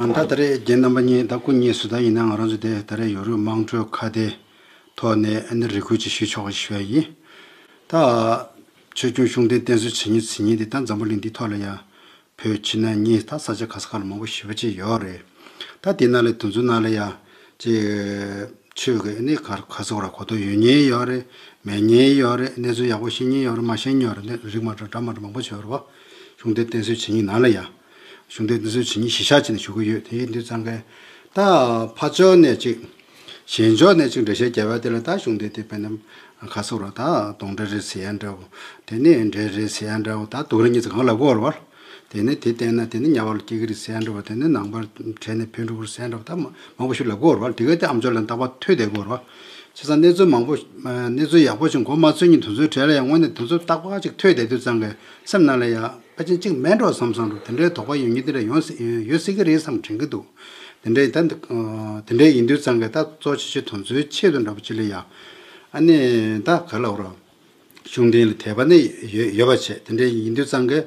ད་ད་རེས་རྒྱན་རྣམ་པ་གཉིས་དང་སྐུ་གཉིས་སུ་ལྟ་ཡིན་ན་ང་རང་ཚོ་དེ་ད་རེས་ཡོ་རུབ་དམངས་ཁྲོད་ཁ་བརྡའི་ཐོག་ནས་ཨ་ནི་རེ་སྐུལ་ཅིག་ཞུས་ཆོག་ཞུས་པ་ཡིན། ད། ཆོས་སྐྱོང་གཞུང་བསྟེན་བསྟེན་གསོལ་བྱེད་ཉིན་ཚེ་ཉིན་དེ་ད་འཛམ་བུ་གླིང་འདིའི་ཐོག་ལ་ཡང། བོད་ཕྱི་ནང་གཉིས་ད་ས་ཆ་ག་ས་ག་ལ་མང་པོ་ཞི་བ་ཅིག་ཡོད་རེད། ད་དེ་ནང་ལས་དུ་མཚོན་ནང་ལ་ཡང། ཅེ། ཆོས་ཀྱི་ཨ་ནི་ག་ར་ག་ཚོགས་ར་གོ་ཐོ་ཡོད་ཉེན་ཡོད་རེད། མེད་ཉེན་ཡོད་རེད་གནས་ཚུལ་ཡག་པོ་ཤེས་ཉེན་ཡོད་རེད་མ་ཤེས་ཉོན་རེད་རིགས་མ་འདྲ་འདྲ་མ་འདྲ་མང་པོ་བྱོས་རེད་བ། གཞུང་དེར་བསྟེན་གསོལ་བྱེད་ཉིན་ནང་ལ་ཡང། གཞུང་དེར་བསྟེན་གསོལ་བྱེད་ཉིན་གཞི་ཞག་གཅིག་ནས་ཞུ་གི་ཡོད་དེ་ཡིན་དུས་ཙང་ཁན་ད་ཕ་ཕྱོགས་ནས་གཅིག། གཞན་ཕྱོགས་ནས་གཅིག་འདྲ་བཤད་རྒྱ་བལ་དེ་ལ་ད་གཞུང་དེ་དེ་བན་དེ་ཁ་སོག་ར་ད་དོང་འདྲ་རེད་ཟེར་ཡ་འདྲ་བོ། དེ་ནས་འདྲེ་རེད་ཟེར་ཡ་འདྲ་བོ་ད་དུག་ར་གཉིས་ཚེ་གང་ལ་གོ་བར། དེ་ནས་དེ་བསྟེན་ན་དེ་ནས་གཉའ་བར་ལ་སྐྱེ་གི་རེད་ཟེར་ཡ་འདྲ་བོ་དེ་ནས་ནང་པར་བྲལ་ནས་བོད་འབྲུག་བར་ཟེར་ཡ་འདྲ་བོ་ད་མང་པོ་ཞིག་ལ་གོ་བར་དེ་ག་དེ་ཨམ་ཅོག་ལན་རྟག་པ་ཐོས་བསྡད་གོ་བར། བྱས་ཙང་གནས་ཚུལ་མང་པོ། གནས་ཚུལ་ཡག་པོ་ཞིག་མགོ་མ་ཚོས་ཉིན་དུ་ཚོད་བྲལ་ཡང་དངོས་གནས་དུ་ཚོད་རྟག་པ་ཅིག་ཐོས་བསྡད་དུས་ཙང་ཁན། སེམས་ནང་ལ་ཡ། ཕ་ཆིན་གཅིག་མེད་འགྲོ་བསམ་བསམ་རུང་དེ་འདྲའི་དོགས་པ་ཡོད་ཉིན་དེ་འདྲ་ཡོང་ཡོད་སྲིད་ཀྱི་རེད་བསམ་དྲན་གྱི་འདུག་དེ་འདྲ་ཡིན་ད། དེ་འདྲ་ཡིན་དུས་ཚང་གི་ད་གཙོ་ཆེ་ཆེ་དོན་ཚོའི་ཆེད་དུ་འདྲ་པོ་བྱེད་ལོས་ཡ། ཨ་ནི་ད་ག་ལ་འོ་རོགས། གཞུང་དེང་ལ་དད་པ་ནི་ཡོད་ཡོད་པ་བྱེད་དེ་འདྲ་ཡིན་དུས་ཚང་གི།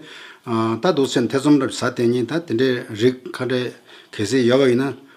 ད་སྡུག་སེམས་ཐེ་ཚོམ་འདྲ་པོ་ཟ་བསྟན་ཉིན་ད་དེ་འདྲའི་རིགས་ཁ་བྲལ་གལ་སྲིད་ཡོད་པ་ཡིན་ན།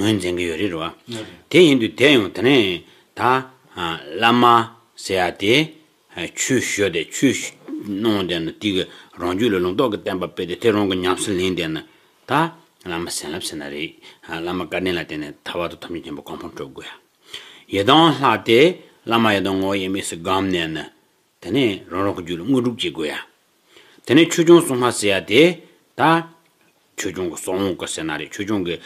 ངོས་འཛིན་གྱི་ཡོད་རེད་རོ། དེ་ཡིན་དུས་དེ་ཡང་དེ་ནས་ད། བླ་མ་ཟེར་ཡ་དེ། ཆོས་ཞུ་དེ་ཆོས་གནང་བ་དེ་ན་དེ་གི་རང་རྒྱུད་ལ་ལུང་རྟོགས་ཀྱི་བསྟན་པ་སྤེལ་ཏེ་དེ་རང་གི་ཉམས་སུ་ལེན་དེ་ན། ད། བླ་མ་ཟན་ལབ་ཟེར་ན་རེད། བླ་མ་བཀའ་དྲིན་ལ་བརྟེན་ནས་ད་བར་དུ་ཐོབ་བྱུང་ཆེན་པོ་གང་ཕོངས་སྤྲོད་དགོས་ཡ། ཡི་དྭགས་ལྷ་དེ་བླ་མ་ཡི་དྭགས་ངོ་ཡེ་མེད་སུ་སྒམ་ནས་ན། དེ་ནས་རང་རང་གི་རྒྱུད་ལ་དངོས་གྲུབ་བསྐྱེད་དགོས་ཡ། དེ་ནས་ཆོས་སྐྱོང་སྲུང་མ་ཟེར་ཡ་དེ། ད། ཆོས་སྐྱོང་གི་སྲོག་འོང་དཀའ་ཟེར་ན་རེ་ཆོས་སྐྱོང་གི།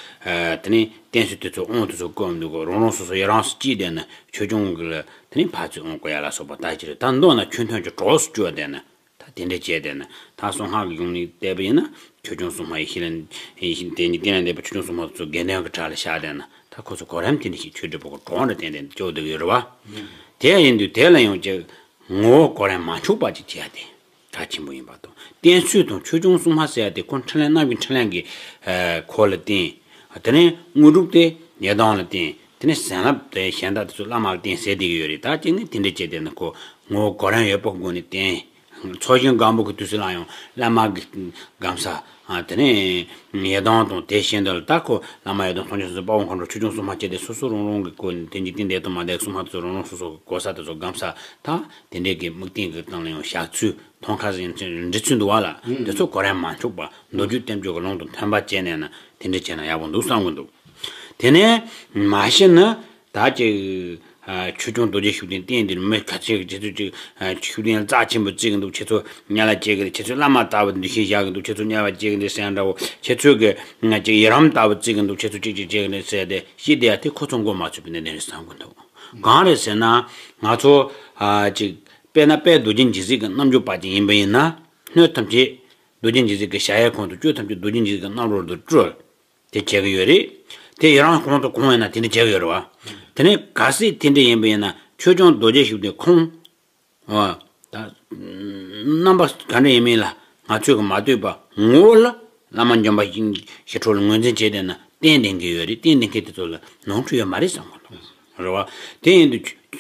དེ་ནས་བསྟན་སྲིད་དེ་ཚོ་འོང་དེ་ཚོ་བཀོད་འོང་འདུག་གོ་རང་རང་སོ་སོ་ཡ་རངས་སུ་ཅིས་བསྡད་ན་ཆོས་སྐྱོང་གི་ལ་དེ་ནས་ཕར་ཚུར་འོང་དགོས་ཡ་ལ་སོགས་པ་ད་ཅི་རེད་ད་མདོ་ན་ཁྱོད་ཐོན་གྱི་གྲོགས་སུ་བསྐྱོད་བསྡད་ན་ད་དེ་འདྲ་བྱས་བསྡད་ན་ད་སོང་ཧ་གི་ཡོང་ནི་བསྡད་པ་ཡིན་ན་ཆོས་སྐྱོང་སྲུང་མ་ཡི་ཤི་ལ། དེ་ནས་བསྟན་ལ་བསྡད་པ་ཆོས་སྐྱོང་སྲུང་མ་དེ་ཚོ་དགེ་འདུན་གྱི་བྲག་ལ་བཞག་བསྡད་ན། ད་ཁོ་ཚོ་གོ་རམས་ཀྱི་ནི་ཞིག་ཆོས་སྒྲུབ་པོ་འགྲོ་འོང་རེ་བསྟན་ཏེ་སྐྱོ་འདུག་ཡོད་རེད་བ། དེ་ཡང་ཡིན་དུས་དེ་ལ་ཡང་ཅིག་ངོ་བོ་གོ་རམས་མ་འཆུག་པ་ཅིག་བྱས་ཏེ་གྲགས་ཆེན་པོ་ཡིན་པ་དང་བསྟན་ཚུལ་དང་ཆོས་འབྱུང་གསུམ་མ་གསལ་ཏེ་ཁོ་འཕྲིན་ལན་གནམ་གྱི་འཕྲིན་ལན་གྱི་གོ་ལ་བསྟན། དེ་ནས་དངོས་གྲུབ་སྟེ་ཉེ་དང་ལ་བསྟན་དེ་ནས་ཟན་ལ་བསྟན་གཞན་དག་དེ་ཚོ་བླ་མ་ལ་བསྟན་ཟེར་དེ་གི་ཡོད་རེད་ད་ཅིག་ནི་དེ་འདྲ་བྱས་ཏེ་ན་ཁོ་ངོ་བོ་གོ་རམས་ཡོད་པོ་དགོས་ནི་བསྟན་ཚོགས་ཞིང་སྒམ་པོ་གི་དུས་སུ་སླར་ཡང་བླ་མ་གི་སྒམ་ས། དེ་ནས་ཡེ་དྭགས་དང་དེ་བཞིན་དུ་རྟག་གོ། བླ་མ་ཡེ་དྭགས་ཐོགས་མཆོག་སོ་སོའི་དཔའ་བོ་མཁའ་འགྲོ་ཆོས་སྐྱོང་སྲུང་མ་བཅས་ཏེ་སོ་སོ་རང་རང་གི་སྐུ་ནི་དེ་འཇིག་རྟེན་འདས་དང་མ་འདས་སྲུང་མ་དེ་ཚོ་རང་རང་སོ་སོ་གི་གོ་ས་དེ་ཚོ་སྒམ་ས་དང། དེ་འདྲའི་གི་དམིགས་རྟེན་གི་སྟེང་ལ་ཡང་བཞག་ཚུལ་ཐོང་ཁ་སི་འབྲི་ཚུལ་འདུག་བ་ལ་དེ་ཚོ་གོ་རན་མ་འཆོག་པར་མདོ་རྒྱུད་བསྟན་བཅོས་ཀྱི་ཀློང་དུ་འཐོན་པ་བྱས་ནས་ན་དེ་འདྲས་བྱས་ན་ཡག་པོ་འདུག་བསམ་གྱི་འདུག་དེ་ནས་མ་གཞི་ནི། དག་ཅིག། ཆོས་སྐྱོང་རྡོ་རྗེ་ཤུགས་ལྡན་བསྟན་འདིར་མི་ག་ཚད་ཀྱི་ཁྱེད་ཚོས་ཅིག། ཤུགས་ལྡན་རྩ་ཆེན་པོ་བརྩེ་གི་འདུག་ཁྱེད་ཚོ་གཉལ་ལ་སྐྱེལ་གི་རེད་ཁྱེད་ཚོས་བླ་མ་ལྟ་བུ་འདི་བཞིན་བཞག་གི་འདུག་ཁྱེད་ཚོ་གཉལ་བ་སྐྱེལ་གི་འདུག་ཟེར་ཡ་འདྲ་བོ་ཁྱེད་ཚོས་ཀྱི། ཅིག་ཡི་རམ་ལྟ་བུ་བརྩེ་གི་འདུག་ཁྱེད་ཚོ་ཅིག་ཅིག་བྱེད་གི་རེད་ཟེར་ཏེ་ཤི་བསྡད་ཡ་དེ་ཁོ་ཚོ་མགོ་མ་ཚོས་པའི་གནད་དོན་རེད་བསམ་གི་འདུག་གང་རེད་ཟེར་ན། ང་ཚོ། ཅིག། དཔེར་ན་དཔལ་རྡོ་རྗེ་འཇིགས་གཟིགས་ཀྱི་རྣམ་འགྱུར་པ་ཅིག་ཡིན་པ་ཡིན་ན། སྣོད་ཐམས་ཅད། རྡོ་རྗེ་འཇིགས་གཟིགས་ཀྱི་ཞལ་ཡས་ཁོང་དུ་བསྐྱོད་ཐམས་ཅད་རྡོ་རྗེ་འཇིགས་གཟིགས་ཀྱི་རྣམ་རོལ་དུ་སྤྲོ། དེ་བྱེད་ཀྱི་ཡོད་རེད། དེ་ཡི་རང་གོང་དུ་གོང་ཡིན་ན་དེ་འདྲ་བྱེད་ཀྱི་ཡོད་རེད་བ། དེ་ནས་ག་སྲིད་དེ་འདྲ་ཡིན་པ་ཡིན་ན་ཆོས་སྐྱོང་རྡོ་རྗེ་ཞིག་དེ་ཁོང། བ། དང། རྣམ་པ་ག་འདྲ་ཡིན་མིན་ལ་ང་ཚོས་གི་མ་ལྟོས་པ་ངོ་བོ་ལ་བླ་མ་འཇམ་པ་ཞི་ཞི་ཁྲོ་ལ་ངོས་འཛིན་བྱེད་འདོད་ན་བསྟན་ལྡན་གྱི་ཡོད་རེད་བསྟན་ལྡན་མཁན་དེ་ཚོ་ལ་ནོར་འཁྲུལ་ཡོད་མ་རེད་བསམ་གི་འདུག་རེད་བ། དེ་ཡིན་དུ།